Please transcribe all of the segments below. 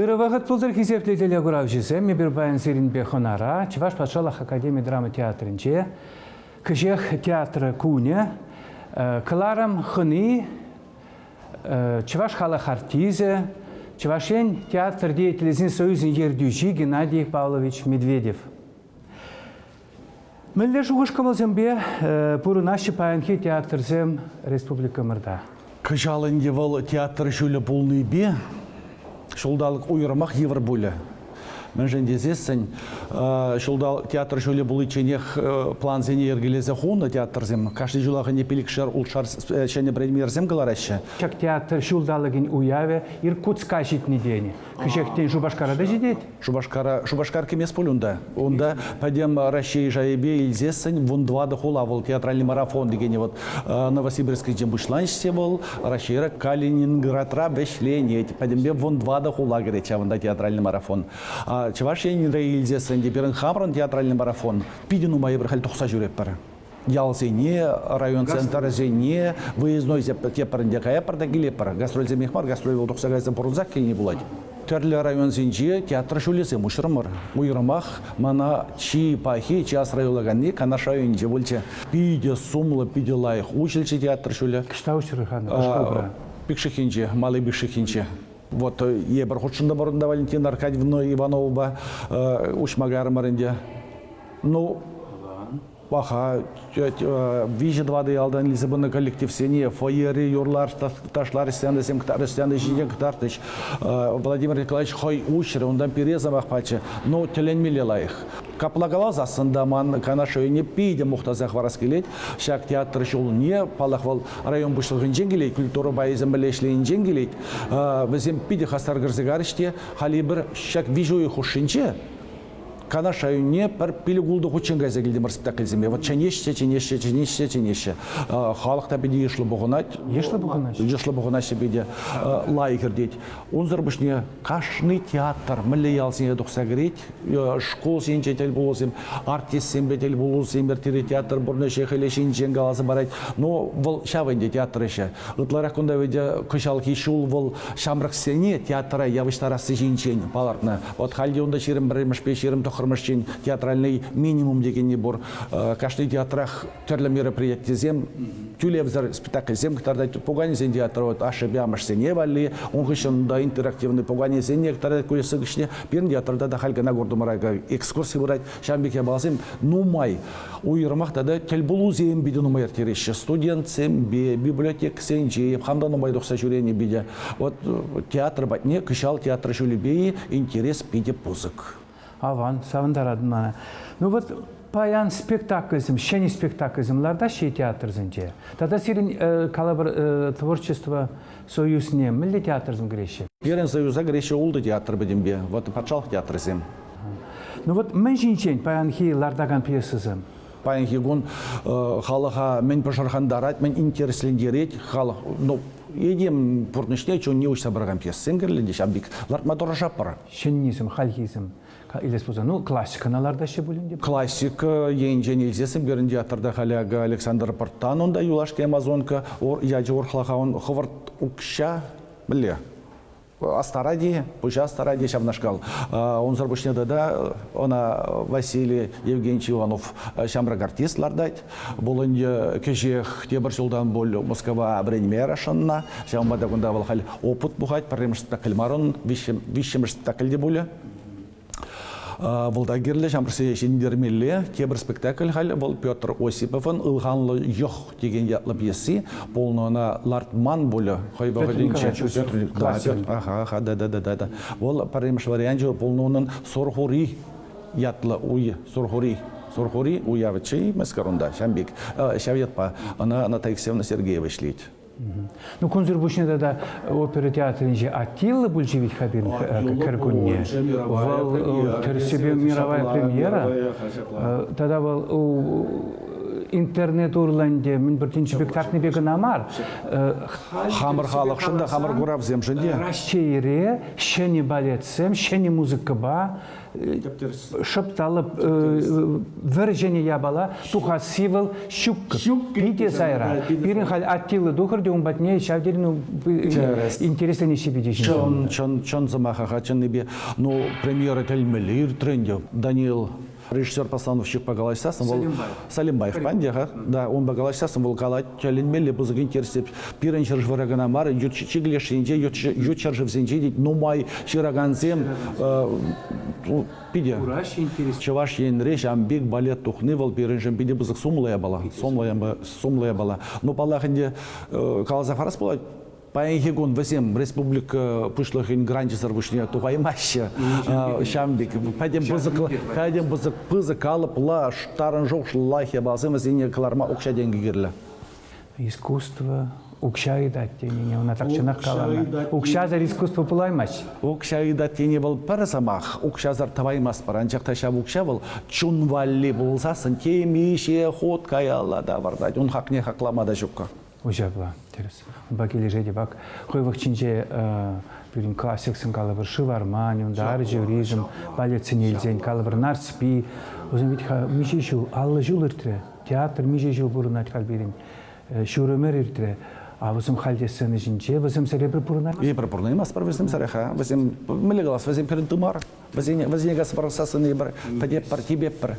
Ырӑ вӑхӑт пултӑр хисеплӗ телекуравҫӑсем! Эпир паян сирӗнпе хӑнара Чӑваш патшалӑх академи драма театрӗнче кӗҫех театрӑ кунӗ. Кӑларӑм хӑни, чӑваш халӑх артисчӗ, Чӑваш Ен театр деятелӗсен союзӗн ертӳҫи Геннадий Павлович Медведев. Мӗнле шухӑш-кӑмӑлсемпе пурӑнаҫҫӗ паянхи театрсем республикӑмӑрта? Кӑҫал ӗнтӗ вӑл театр ҫулӗ пулнипе ҫулталӑк уйрӑмах йывӑр пулӗ. Мӗншӗн тесессӗн ҫулталӑк театр ҫулӗ пуличченех плансене йӗркелесе хунӑ театрсем кашни ҫулах ӗне пилӗкшер ултшар ҫӗнӗ премьерсем кӑлараҫҫӗ. Ҫак театр ҫулталӑкӗн уявӗ Иркутска ҫитнӗ тенӗ. Кӗҫехтен Шупашкара та ҫитет? Шупашкара, Шупашкар кӗмест пуль унта. Унта пӗтӗм Раҫҫей шайӗпе илсессӗн вун тӑватӑ хула вӑл театральный марафон текенӗ вот Новосибирскинче пуҫланаҫҫӗ вӑл. Раҫҫейра Калининградра вӗҫленет. Пӗтӗмпе вун тӑватӑ хула кӗрет ҫавӑнта театральный марафон. Чӑваш Енре илсессӗн те пирӗн хамӑрӑн театральный марафон питӗ нумай эпир халь тухса ҫӳретпӗр. ялсене, район центрӗсене, выездной тепӗр ӗнтӗ каятпӑр та килетпӗр. Гастрольсемех мар, гастроль вӑл тухса кайса пурӑнсах килни пулать. Тӗрлӗ районсенче театр ҫулӗсем уҫрӑмӑр. Уйрӑмах мана чи пахи, чи асра юлаканни Канаш районӗнче пулчӗ. Питӗ сумлӑ, питӗ лайӑх уҫӑлчӗ театр ҫулӗ. Ӑҫта уҫрӑр-ха шкулта? Пикшихӗнче, Мали Пикшихӗнче. Вот эпир хутшӑнтӑмӑр унта Валентина Аркадьевна Ивановӑпа. Уҫма кайрӑмӑр ӗнтӗ. Ну, паха виҫӗ-тӑватӑ ялтан илсе пынӑ коллективсене фойери юрлар ташлар стендӑсем стенда ҫине кӑтартӗҫ. Владимир Николаевич хӑй уҫрӗ, унтан пире сӑмах пачӗ. Ну, тӗлӗнмелле лайӑх. Капла каласассӑн та ман Канаш районне питӗ мухтаса хӑварас килет. Ҫак театр ҫулне, паллах, вӑл район пуҫлӑхӗнчен килет, культура пайӗсем пӗрле ӗҫленинчен килет. Вӗсем питӗ хастар кӗрсе карӗҫ те, халӗ эпир ҫак виҫӗ уйӑх хушшинче Канаш районне пӗр пилӗк-ултӑ хутчен кайса килтӗмӗр спектакльсемпе. Вӑт чӗнеҫҫӗ, чӗнеҫҫӗ, чӗнеҫҫӗ, чӗнеҫҫӗ. Халӑх та питӗ йышлӑ пухӑнать. Йышлӑ пухӑнаҫҫӗ. Йышлӑ пухӑнаҫҫӗ питӗ. Лайӑх иртет. Унсӑр пуҫне кашни театр мӗнле ялсене тухса кӗрет. Шкулсенче тӗл пулусем, артистсемпе тӗл пулусем ирттерет. Театр пурнӑҫӗ хӗле ҫинчен каласа парать. Но вӑл ҫав ӗнтӗ театр ӗҫӗ. Ытларах кунта ведь кӑҫалхи ҫул вӑл ҫамрӑксене театра явӑҫтарасси ҫинчен палӑртнӑ. Вот халь те унта ҫирӗм пӗрремӗшпе ҫирӗм тӑххӑрмӗш чин театральнӑй минимум текенни пур. Кашни театрах тӗрлӗ мероприятисем, тӳлевсӗр спектакльсем кӑтартать. Пуканесен театрӗ вот ашшӗпе амӑшсене валли, ун хыҫҫӑн да интерактивный пуканесене кӑтартать куҫса кӗҫне. Пирӗн театрта та халь кӑна куртӑмӑра экскурси пырать. Ҫавӑн пек япаласем нумай, уйрӑмах тата тӗлпулусем питӗ нумай ирттереҫҫӗ. Студентсемпе, библиотекӑсенче хам нумай тухса ҫӳренӗ питӗ. Вот театр патне кӑҫал театр ҫулӗпе-и интерес питӗ пысӑк. Аван, савӑнтаратӑн мана. Ну вот паян спектакльсем, ҫӗнӗ спектакльсем лартаҫҫӗ-и театрсенче? Тата сирӗн калӑпӑр творчество Союзне мӗнле театрсем кӗреҫҫӗ? Пирӗн Союза кӗреҫҫӗ ултӑ театр пӗтӗмпе, вӑт патшалӑх театрӗсем. Ну вот мӗн ҫинчен паянхи лартакан пьесӑсем? Паянхи кун халӑха мӗн пӑшӑрхантарать, мӗн интереслентерет халӑх, ну, этем пурнӑҫне чунне уҫса паракан пьесӑсем кирлӗ те ҫав пек лартма тӑрӑшатпӑр. Ҫӗннисем, хальхисем Илес пулсан, ну, классикӑна лартаҫҫӗ пулин те. Классика енчен илсе сӗнтерӗн театрта халӗ акӑ Александр Пӑрттан, унта юлашки Амазонка ячӗ урӑхлаха, он хӑвӑрт укҫа мӗнле? Астаради, пуҫа Астаради ҫавнашкал. Унсӑр пуҫне тата ӑна Василий Евгеньевич Иванов ҫамрӑк артист лартать. Вӑл ӗнтӗ кӗҫех тепӗр ҫултан пуль Мускава вӗренме расшӑннӑ. Ҫавӑнпа та кунта вӑл халь опыт пухать. Пӗрремӗш спектакль марун, виҫҫӗмӗш спектакль те пулӗ. Вӑл та кирлӗ, ҫамрӑксене ҫӗнтермелле. Тепӗр спектакль халь вӑл Петр Осиповӑн «Ылханлӑ йӑх» текен ятлӑ пьеси. Пулнӑ ӑна лартман пулӗ хӑй вӑхӑтӗнче. Ага, да, да, да, да. Вӑл пӗрремӗш варианчӗ пулнӑ унӑн Сорхури ятлӑ уй Сурхури. Сурхури уявӗччӗ-и мӗскер унта? Ҫав пек, ҫав ятпа ӑна Наталья Алексеевна Сергеева ӗҫлет. Ну, кунсӑр пуҫне тата опера театрӗнче Аттилла пулчӗ вӗт-ха пирӗн кӗркунне. Вӑл тӗрӗссипе мировая премьера. Тата вӑл интернет урлӑ ӗнтӗ мӗн пӗр тин спектакльпе кӑна мар, хамӑр халӑхшӑн та хамӑр куравсемшӗн те. Раҫҫейре ҫӗнӗ балетсем, ҫӗнӗ музыкӑпа шӑпталӑп вӗрҫӗнӗ япала тухасси вӑл ҫуккӑ питӗ сайра пирӗн халь аттиллӑ тухӑр те ун патне ҫав тери ну, интересленӗ ҫепӗте чӑн чӑн чӑн сӑмаха чӑннипе ну премьера тӗлмелле иртрӗ ӗнтӗ Даниил режиссер Пасланов ҫыхпа калаҫсассӑн вӑл Салимбаев пан те-ха да унпа калаҫсассӑн вӑл калать Тӗлӗнмелле пысӑк интереслӗ пирӗн ҫӗршывра кӑна мар, ют чикӗ леш енче, ют ҫӗршывсенче те нумай ҫыракансем питӗ. Кураҫҫӗ интерес. Чӑваш Енре ҫавӑн пек балет тухни вӑл пирӗншӗн питӗ пысӑк сумлӑ япала. Сумлӑ япала. Но паллах ӗнтӗ, каласа парас пулать, Паянхи кун вӗсем республика Пуҫлӑхӗн гранчӗсӗр пуҫне тухаймаҫҫӗ. Ҫавӑн пек пӗтӗм пысӑк, пӗтӗм пысӑк, пысӑк калӑплӑ тарӑн шухӑшлӑ япаласем вӗсене кӑларма укҫа-тенкӗ кирлӗ. Искусство укҫа ыйтать тенине ӑна тахҫанах каланӑ. Укҫасӑр искусство пулаймасть. Укҫа ыйтать тени вӑл пӗр сӑмах. Укҫасӑр тӑваймастпӑр, анчах та ҫав укҫа вӑл чун валли пулсассӑн темиҫе хут каялла тавӑртать, ун хакне хаклама та ҫук. Уҫапла, тӗрӗс. Унпа килӗшетӗп. Ак хӑйвӑх ҫинче пирӗн классиксен калӑпӑр шывармань, унтарчӗ, ризм балетсене илсен калӑпӑр Нарспи. Вӗсем вӗт-ха миҫе ҫул, аллӑ ҫул иртрӗ. Театр миҫе ҫул пурӑнать халь пирӗн. Ҫур ӗмӗр иртрӗ. А вӗсем халь те сцена ҫинче, вӗсем сӗрепӗр пурӑнать. Эпир пурӑнаймастпӑр вӗсем сӗреха. Вӗсем мӗнле калас, вӗсем пирӗн тымар. Вӗсене, вӗсене касса пӑрахса сӑнӑйӑпӑр, пӗтеппӗр, типеппӗр.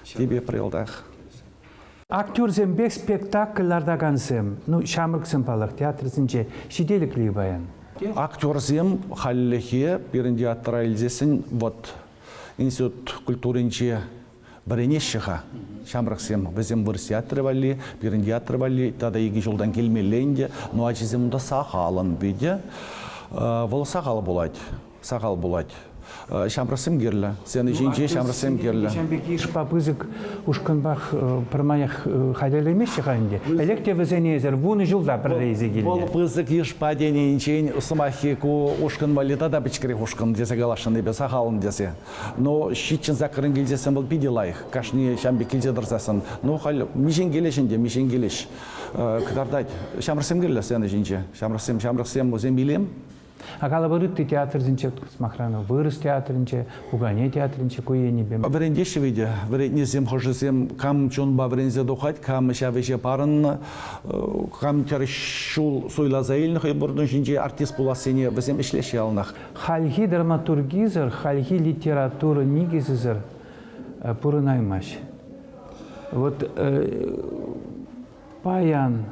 Типеппӗр йӑлтах. Актерсемпе спектакль лартакансем, ну, ҫамрӑксем паллах, театрсенче ҫителӗкли паян. Актерсем хальлӗхе пирӗн театра илсессӗн вӑт институт культуринче вӗренеҫҫӗ-ха ҫамрӑксем. Вӗсем вырӑс театрӗ валли, пирӗн театр валли тата икӗ ҫултан килмелле ӗнтӗ. Ну, ачисем унта сахалӑн питӗ. Вӑл сахал пулать. Сахал пулать. Ҫамрӑксем кирлӗ. Сцена ҫинче ҫамрӑксем кирлӗ. Ҫавӑн пирки йышпа пысӑк ушкӑнпах пӗрмаях хатӗрлемеҫҫӗ-ха ӗнтӗ. Ӗлӗк те вӗсене эсӗр вунӑ ҫулта пӗрле илсе килнӗ. Вӑл пысӑк йышпа тенинчен сӑмаххи ку ушкӑн валли тата пӗчӗкрех ушкӑн тесе каласшӑннипе сахалӑн тесе. Ну, ҫиччӗн саккӑрӑн килсессӗн вӑл питӗ лайӑх, кашни ҫам пек килсе тӑрсассӑн. Ну, халь миҫенкелеш ӗнтӗ, миҫенкелеш кӑтартать. Ҫамрӑксем кирлӗ сцена ҫинче. Ҫамрӑксем, ҫамрӑксем, вӗсем илем. Акалапӑр ытти театрсенче, сӑмахран, вырӑс театрӗнче, пукане театрӗнче ку енӗпе. Вӗрентеҫҫӗ вӗтӗ вӗрентнисем хӑшӗсем. Кам чунпа вӗренсе тухать, кам ҫав ӗҫе парӑннӑ, кам кӗр ҫул суйласа илнӗ хӑй пурнӑҫ ҫинчи артист пулассине вӗсем ӗҫлеҫҫӗ яланах. Хальхи драматургисӗр, хальхи литература никӗсӗсӗр пурӑнаймасть. Вот Паян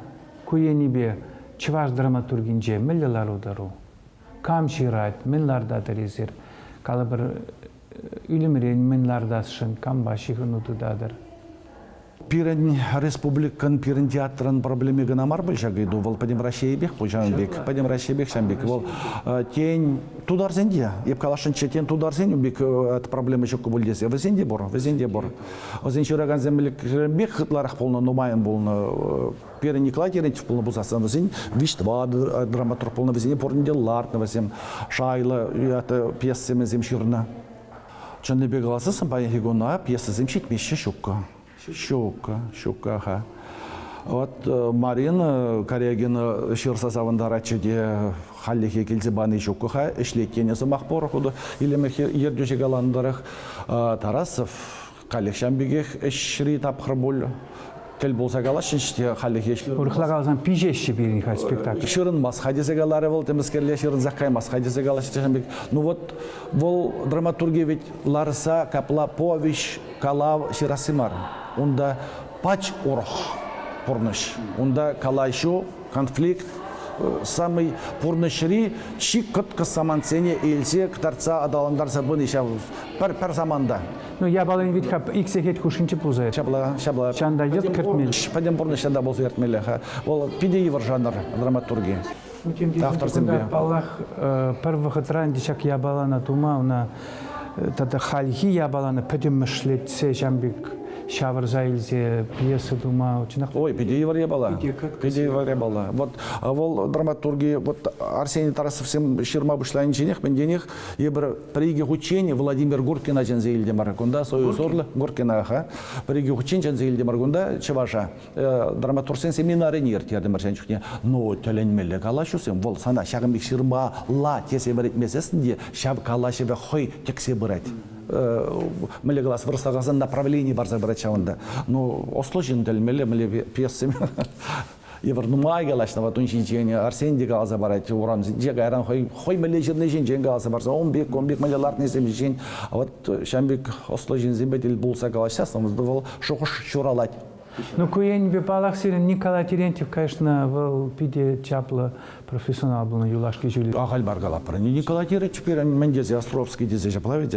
ку енӗпе чӑваш драматургинче мӗнле лару-тӑру? Кам ҫырать, мӗн лартатӑр эсир? Калӑпӑр, ӳлӗмрен мӗн лартасшӑн, кампа ҫыхӑну тытатӑр? Пирӗн республикӑн, пирӗн театрӑн проблеми кӑна мар пуль ҫак ыйту, вӑл пӗтӗм Раҫҫейӗпех пуль ҫавӑн пек, пӗтӗм Раҫҫейпех ҫавӑн пек. Вӑл тен, тутарсен те, эп каласшӑнччӗ, тен, тутарсен ун пек проблема ҫук пуль тесе, вӗсен те пур, вӗсен те пур. Вӗсен ҫыракансем ӗлӗкрен пек ытларах пулнӑ, нумайӑн пулнӑ. Пирӗн Николай Терентьев пулнӑ пулсассӑн вӗсен виҫ-тӑватӑ драматург пулнӑ, вӗсене пурне те лартнӑ, вӗсем шайлӑ пьесӑсем ҫырнӑ. Чӑннипе каласан паянхи куна пьесӑсем ҫитмеҫҫӗ ҫуккӑ. Ҫуккӑ, ҫукка-ха. Вот Марина Корягина ҫырса савӑнтаратчӗ те Хальлӗхе килсе пани ҫук-ха, ӗҫлет тенӗ сӑмах пур хутӑ илемех ертӳҫӗ каланӑ тӑрӑх. Тарасов каллех пекех ӗҫри тапхӑр пуль. Тӗл пулса калаҫҫӗҫ те хальлӗхе. Урӑхла каласан, пиҫеҫҫӗ пирӗн халь спектакль. Ҫырӑнмасть-ха тесе каларӗ вӑл, темскерле ҫырӑнсах каймасть-ха тесе калаҫҫӗ тесен пек. Ну вот, вӑл драматурге ведь ларса капла повеҫ, калав ҫырасси мар. Унта пач урӑх, пурнӑҫ. Унта калаҫу Конфликт самый пурнӑҫри чи кӑткӑс самантсене илсе кӑтартса аталантарса пыни ҫав пӗр саманта. Ну, япалин вит-ха ик сехет хушшинче пулса. Ҫапла, ҫапла. Чан та йӑт кӗртмелле. Пӗтӗм пурнӑҫра та пулса кӗртмелле-ха. Вӑл питӗ йывӑр жанр драматурги. Авторсемпе. Паллах, пӗр вӑхӑтра ӗнтӗ ҫак япалана тума, ӑна тата хальхи япалана пӗтӗмӗшлетсе ҫам пек ҫавӑрса илсе пьеса тума чӑнах. Ой, питӗ йывӑр япала. Питӗ йывӑр япала. Вот вӑл драматурги вот Арсений Тарасовсем ҫырма пуҫланинченех мӗнтенех эпир пӗр-икӗ хутчен Владимир Гуркина чӗнсе илтӗмӗр. Кунта союз урлӑ Гуркина-ха. Пӗр-икӗ хутчен чӗнсе илтӗмӗр кунта чӑваша. драматургсен семинарине ирттертӗмӗр ҫан чухне. Ну, тӗлӗнмелле калаҫусем. Вӑл сана ҫакӑн пек ҫырмалла тесе вӗретмесессӗн те ҫав калаҫӑвӗ хӑй тӗксе пырать. Мӗнле калас, вырӑсла каласан направлени парса пырать ҫавӑнта. Ну, осло ҫын тӗлмелле, мӗнле пьесем евӗр нумай калаҫнӑ вот ун ҫинчен, Арсен те каласа парать урамсенче, кайран хӑй, хӑй мӗнле ҫырни ҫинчен каласа парса, он пек, он пек мӗнле лартнисем ҫинчен, вот ҫан пек осло ҫынсемпе тӗл пулса калаҫсассӑн вӑл шухӑш ҫуралать. Ну, ку енӗпе, паллах, сирӗн Николай Терентьев каяшна вӑл питӗ чаплӑ профессионал пулнӑ юлашки ҫуле. Ахаль мар калатпӑр ӗнтӗ. Николай Терентьев пирӗн мӗн тесе Островский тесе ҫапла вӗт?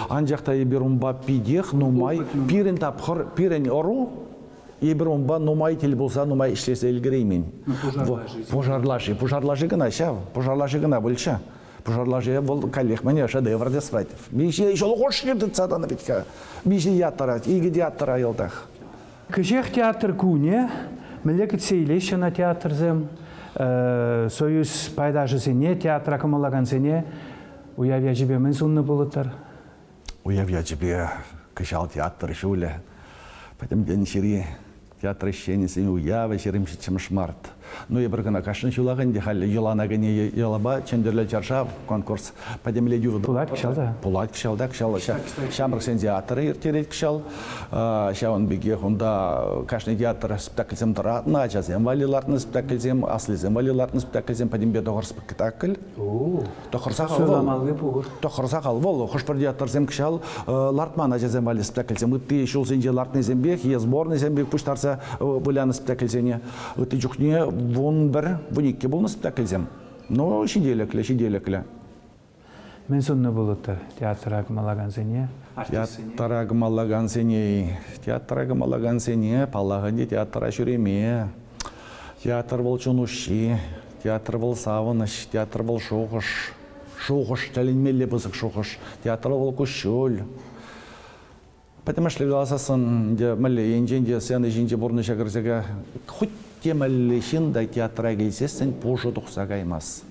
Анчах та эпир унпа питех нумай, пирӗн тапхӑр, пирӗн ӑру эпир унпа нумай тӗл пулса нумай ӗҫлесе ӗлкӗреймен. Пушарлаши, пушарлаши кӑна ҫав, пушарлаши кӑна пулчӗ. Пушар лаши вӑл каллех мӗне шедевр тесрать. Миҫе ҫул хушши тытса тӑнӑ вӗт-ха. Миҫе ят тӑрать, икӗ театра йӑлтах. Кӗҫех театр кунӗ мӗнле кӗтсе илеҫҫӗ ӑна театрсем, Союз пайташӗсене, театра кӑмӑллакансене уяв ячӗпе мӗн суннӑ пулӑттӑр? уяв ячӗпе кӑҫал театр ҫулӗ. Пӗтӗмтен ҫыри театр ӗҫченӗсен уявӗ ҫирӗмҫӗмӗш март. Ну, эпир кӑна кашни ҫулах ӗнтӗ халӗ йӑлана кӗнӗ йӑлапа Чӗнтӗрлӗ чаршав конкурс пӗтӗмлетӳ пулать кӑҫал та. Пулать кӑҫал та кӑҫал ҫамрӑксен театрӗ ирттерет кӑҫал. Ҫавӑн пекех унта кашни театр спектакльсем тӑратнӑ, ачасем валли лартнӑ спектакльсем, аслисем валли лартнӑ спектакльсем, пӗтӗмпе тӑхӑр спектакль. Тӑхӑрсах Суйламалли пур. Тӑхӑрсах ал вӑл. Хӑш-пӗр театрсем кӑҫал лартман ачасем валли спектакльсем. Ытти ҫулсенче лартнисемпех е сборнӑйсем пек пуҫтарса вылянӑ спектакльсене. Ытти чухне вун пӗр, вун иккӗ пулнӑ спектакльсем. Ну, ҫителӗклӗ, ҫителӗклӗ. Мӗн суннӑ пулӑттӑр театра кӑмӑллакансене, артистсене? Театра кӑмӑллакансене, театра кӑмӑллакансене, паллах ӗнтӗ, театра ҫӳреме. Театр вӑл чун уҫҫи. Театр вӑл савӑнӑҫ, театр вӑл шухӑш. Шухӑш, тӗлӗнмелле пысӑк шухӑш. Театр вӑл куҫҫуль. Пӗтӗмӗшле каласассӑн, ӗнтӗ мӗнле енчен те сцена ҫинче пурнӑҫа кӗрсеке хуть те мӗнле ҫын та театра килсессӗн пушӑ тухса каймасть.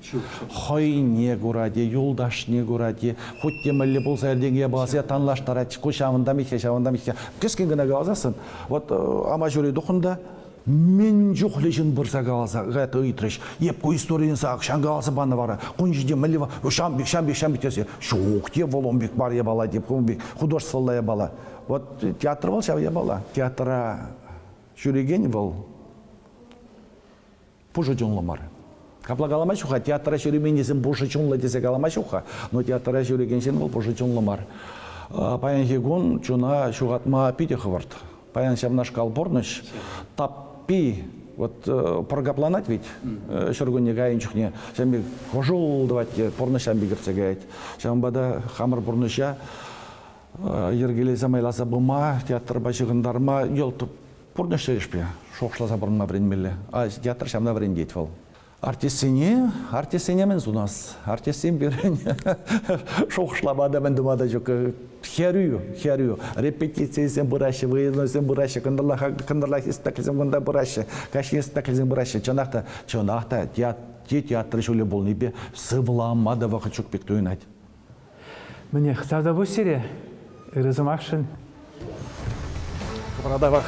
Хӑйне курать-и, юлташне курать-и, хуть те мӗнле пулса иртенке пулас танлаштарать. Ку ҫавӑнта миххе, ҫавӑнта миххе. Кӗскен кӑна каласассӑн, вот Амаҫури тухӑн та Мӗн чухлӗ ҫын пырса каласа это ыйтрӗҫ. Эп ку историе сак ҫан каласа панӑ вара. Кун ҫинче мӗнле ҫам пек, ҫам пек, ҫам пек тесе. Ҫук те вӑл ун пек мар япала, теп, ун пек художествӑлла япала. Вот театр вӑл ҫав япала. Театра ҫӳрекен вӑл пушӑ чунлӑ мар. Капла калама ҫук-ха, театра ҫӳременнисем пушӑ чунлӑ тесе калама ҫук-ха, но театра ҫӳрекен ҫын вӑл пушӑ чунлӑ мар. Паянхи кун чуна ҫухатма питӗ хӑвӑрт. Паян ҫавнашкал пурнӑҫ таппи вот пӑр капланать ведь ҫуркунне кайнӑ чухне ҫавӑн пек хӑшул тӑвать те пурнӑҫ ҫавӑн пек иртсе каять. Ҫавӑнпа та хамӑр пурнӑҫа йӗркелесе майласа пыма, театрпа ҫыхӑнтарма йӑлт Пурнӑҫ тӗлӗшпе шухӑшласа пурӑнма вӗренмелле. Театр ҫавна вӗрентет вӑл. Артистсене, артистсене мӗн сунас? Артистсем пирӗн шухӑшлама та, мӗн тума та ҫук. Хӗрӳ, хӗрӳ. Репетицисем пыраҫҫӗ, выставкӑсем пыраҫҫӗ, кӑнтӑрлахи спектакльсем кунта пыраҫҫӗ, каҫхи спектакльсем пыраҫҫӗ. Чӑнах та, чӑнах та те театр ҫулӗ пулнипе сывлама та вӑхӑт ҫук пек туйӑнать. Мӗнех, сасӑ пуҫ сире, ырӑ сӑмахшӑн. Радавах.